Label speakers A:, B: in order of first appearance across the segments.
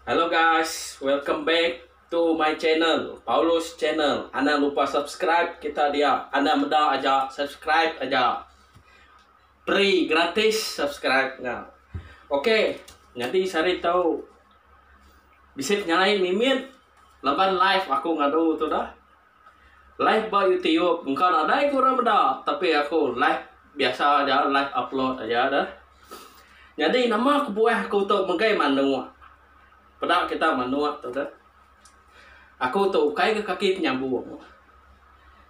A: Hello guys, welcome back to my channel, Paulus Channel. Anang lupa subscribe kita dia. Anang meda aja subscribe aja. free gratis subscribe nya ok nyadi sehari tau bisi penyalai mimit laban live aku ngadu tu dah live ba youtube engka nadai ku orang meda tapi aku live biasa aja live upload aja dah nyadi nama kebuah aku tu megai manuk peda kita manuk tu dah aku tu ukai ke kaki penyambung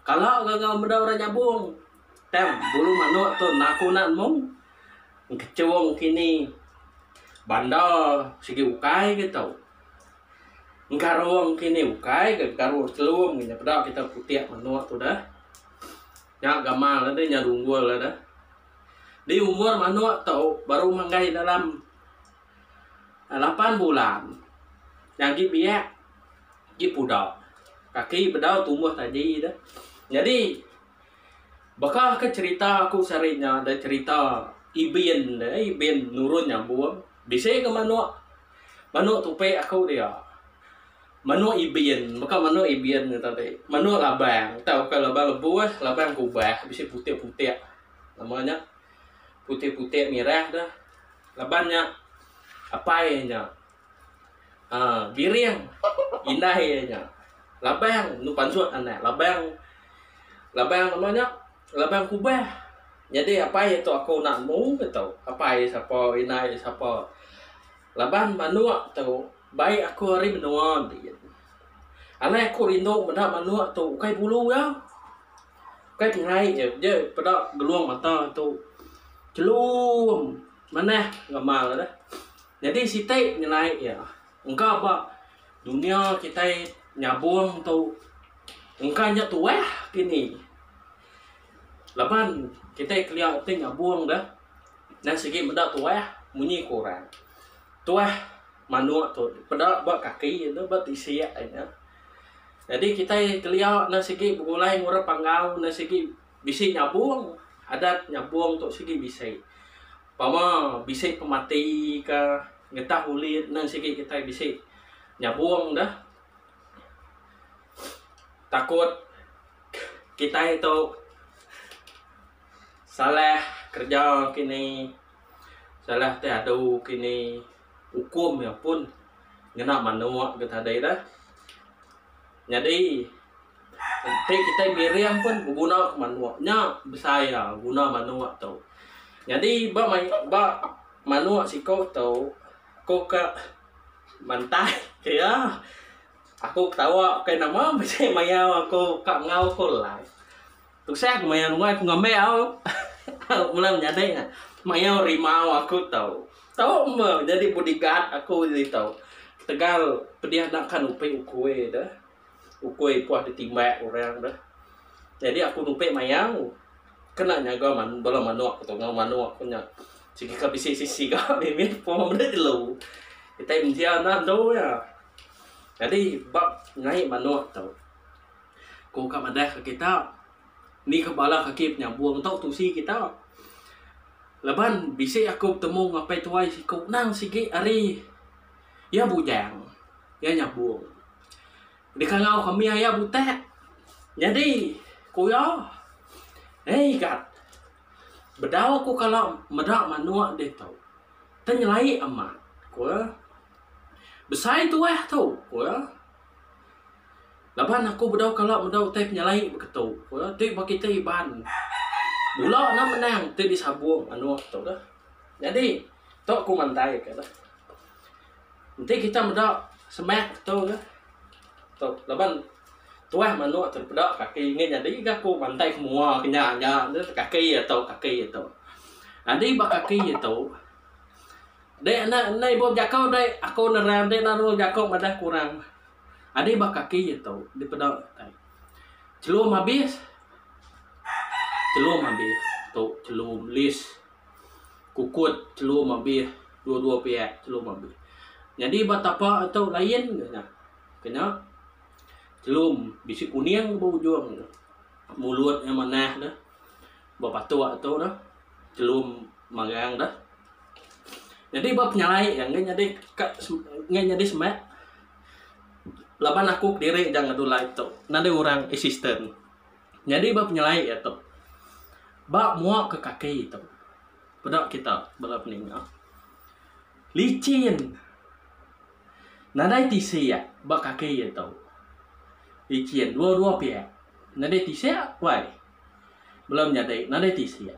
A: kala ga enggau meda orang nyambung Tem, bulu manok tu naku nak mung engkechong kini bandar sigi ukai ke tau. Engkarong kini ukai ke karong chelum ke peda kita putik manok tu dah. Nya gamal ade nya dunggul ade. Di umur manok tu baru manggai dalam lapan bulan nya agi biak agi pudak. Kaki bedau tumbuh taji dah. Nyadi. Baka ke cerita aku sehari nya da cerita Ibin de, Ibin nurun nyabong bisi ga manok. Manok tupi aku dia. Manok Ibin, baka manok Ibin nya tadi. Manok labang tauka labang lebuh, labang kubah bisi putik-putik nama nya putik-putik mirah de. Laban nya apai nya. Ha, biring. Indah iya nya. Labang nu pansut anak. Labang labang nama nya? Labang kubah. Nyadi apai iya tu aku enda nemu ke tu. Apai iya sapa, indai iya sapa. Laban manuk tu bai aku ari menua enti. Alai aku rindu meda manuk tu ukai bulu iya. Ukai pengerai iya. Dia peda gelung mata tu. Chelum. Manah ngamal ne. Nyadi siti ngenai iya, engka ba dunya kitai nyabong tu engka nya tuah kini laban kitai kelia ti nyabong deh nan sigi meda tuah munyi ku orang tuah manuk tu peda ba kaki ne ba tisik ne. Nyadi kitai kelia nan sigi begulai ngurap panggau nan sigi Bisi nyabung, adat nyabung tu sigi bisi. Pama bisi pemati ka ngetah ulih nang sigi kitai bisi nyabung da takut kitai tu salah kerja kini salah ti adu kini. ukum iya pun ngena manuk ke tadi dah. Nyadi enti kitai miring pun beguna ke manuk nya besai iya guna manuk tu. Nyadi ba mai ba manuk siko tu ko ka mantai ke iya aku ketawa ke nama bisi mayau aku ka ngau ko live. Tusah aku maya ruai aku ngambai au au mula menyadi nya. Mayau rimau aku tau. Tau me nyadi bodyguard aku ji tau. Tegal pedih nakan upi ukui de. Ukui puah ditimbak orang de. Nyadi aku nupi mayau kena nyaga man bala manok tu enggau manok ku nya. Sigi ka bisi sisi ga mimit puang meda jelu. Kitai mensia enda andu iya. Nyadi ba nyai manok tu. Ko ka madah ka kita ni ka bala kaki penyabong tau tusi kita. Laban bisi aku betemu ngan apai tuai siku nang sigi ari iya bujang iya nyabong dikangau kami aya butak nyadi ku iya eh igat bedau ku kala meda manok ditu tenyelai amat ku iya besai tuah tu ku iya. Laban aku bedau kala bedau utai penyelai ba keto. Ti ba kitai Iban bula ne menang ti disabong anu tok deh. Nyadi tok ku mandai ka deh. Enti kita meda semak keto deh tok laban tuah manok tok peda kaki ngi nyadi ga ku mandai ku mua ke nya nya deh kaki ato kaki ato. Nyadi ba kaki ato. Dek enda enda ibup jakau dek aku nerang dek naru jakau madah kurang adi ba kaki je tu dipeda kitai celum habis celum habis tu celum list kukut celum habis dua dua piak celum habis nyadi ba tapa tu lain ke nya kena celum bisi kuning ba ujung mulut nya manah dah. ba patok tu dah telum marang dah nyadi ba penyalai iya enggai nyadi ka enggai nyadi semak laban aku kediri ja ngadu live tu nadai orang assistant nyadi ba penyalai iya tu ba mua ka kaki tu peda kita bala peninga licin nadai tisi iya ba kaki iya tu licin dua dua piak nadai tisi wai. Bela menyadi nadai tisik.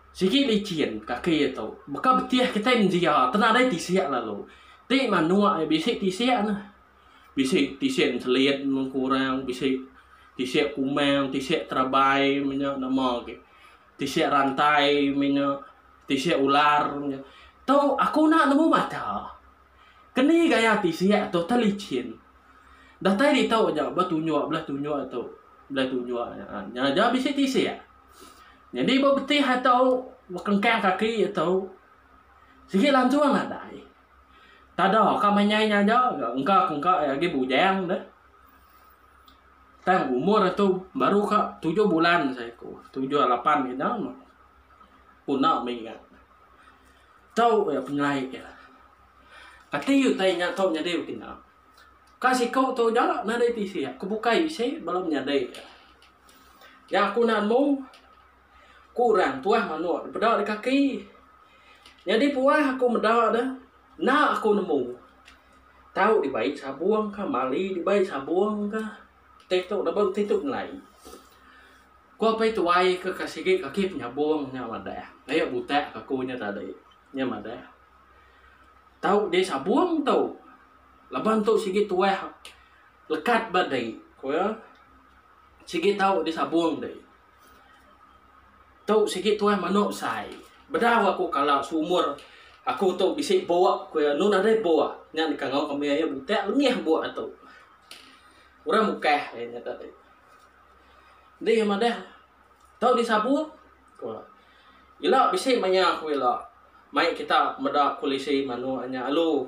A: Sigi licin kaki iya tu. Baka betih kitai menjia tu nadai tisik lalu. Ti manuk iya bisi tisik ne. Bisi tisik enselit mung ku orang, bisi tisik kumang, tisik terabai meh nya nama agi. Tisik rantai meh nya, tisik ular meh nya. Tu aku enda nemu mata. Keni gaya ti siak tu teh lichin. Datai ditu aja ba tunjuk belah tunjuk tu. Belah tunjuk nya nya aja bisi ti siak. Nyadi ba betih atu ba kengkang kaki tu sigi lansung nadai. Tada ka manyai nya aja ga engka ke engka iya agi bujang deh. Tang umur iya tu baru ka tujuh bulan saja ku. Tujuh lapan kena pun enda mih ga. Tau iya pengelai iya. Kati iya utai nya tau nyadi bekina? Ka siku tau jalak nadai tisi aku bukai bisi bala menyadi iya. Nya aku naan mu, ku orang tuah manuk dipeda di kaki. Nyadi puah aku meda ne, enda aku nemu tau dibai sabung ka, mali dibai sabung ka. Ti tu lebuh ti tu nilai. Ku apai tuai ke ka sigi kaki penyabung nya madah. Ayo butak ka ku nya tadi. Nya madah. Tau di sabung tu. Laban tu sigi tuah lekat ba dei. Ku iya. Sigi tau di sabung dei. Tu sigi tuah manu besai. Bedau aku kala seumur aku tu bisi buk ku iya. Nu nadai buk. Nya dikangau kami ayo butak lengih buk atu. Orang mukah iya nyata ti. Enti iya madah tau disabung ku iya. Ila bisi maya ku ila mai kita meda polisi manuk nya alu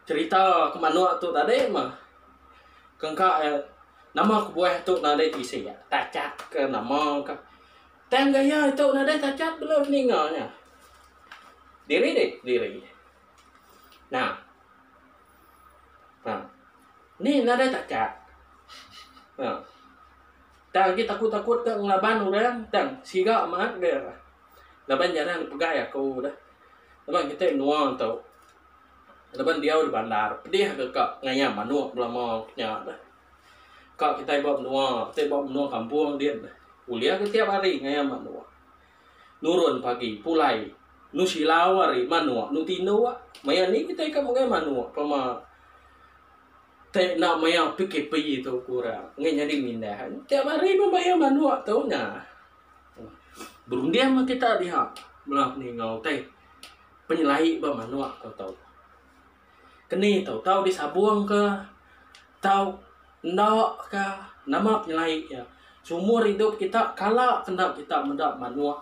A: cerita ke manuk tu tadi mah kengka iya nama kebuah tu nadai tisi iya tachak ke nama ka. Tang gaya itu nadai tachak bela ninga nya. Diri diri. Nah. Ha. Ni nadai takat. Ha. Tang agi takut-takut ke ngelaban orang, tang siga mat dia. Laban jarang dipegai aku dah. Laban kita menua tu. Laban diau di bandar, pedih ke ka ngayam manok belama nya dah. Ka kita ba menua, kita ba menua kampung din, ulih ke tiap hari ngayam manok. Nurun pagi, pulai. Nu silau ari manuk, nu tinduk. Maya ni kitai ka menggai manuk pema te enda maya PKP tu ku ora. Enggai nyadi mindah. Tiap hari pun bayar manuk tu nya. Berunding meh kita diha bela ni enggau utai penyelai ba manuk ko tau. Keni tau, tau disabung ka, tau enda ka, nama penyelai iya. Seumur idup kita, kala ke enda kita meda manuk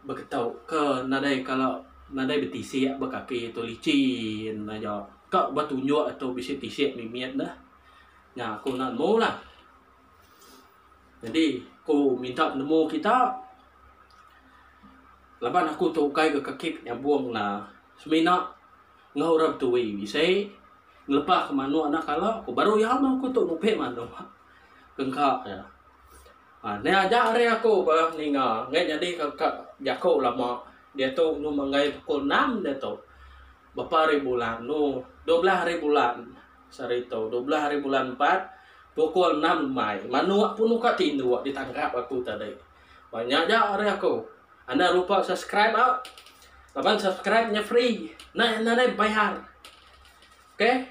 A: beketu ke nadai kala nadai betisik ba kaki tu licin aja. Ka ba tunjuk tu bisi tisik mimit ne. Nya aku nemu lah. Nyadi aku minta penemu kita laban aku tu ukai ga kekit nyabong na semina enggau orang betui bisi ngelepa ke manok anak kala ku baru iya mah aku tu ngupi manok ke engka iya. Aaa ne aja ari aku ba ninga ngai nyadi ka ka jaku lama diatu inu menggai pukul enam diatu. Bepa ari bulan no dua belah ari bulan sehari tu dua belah ari bulan empat pukul enam lemai manuk pun uka tinduk ditangkap aku tadi banyak ja ari aku anda lupa subscribe au laban subscribe nya free nai anda nai bayar okay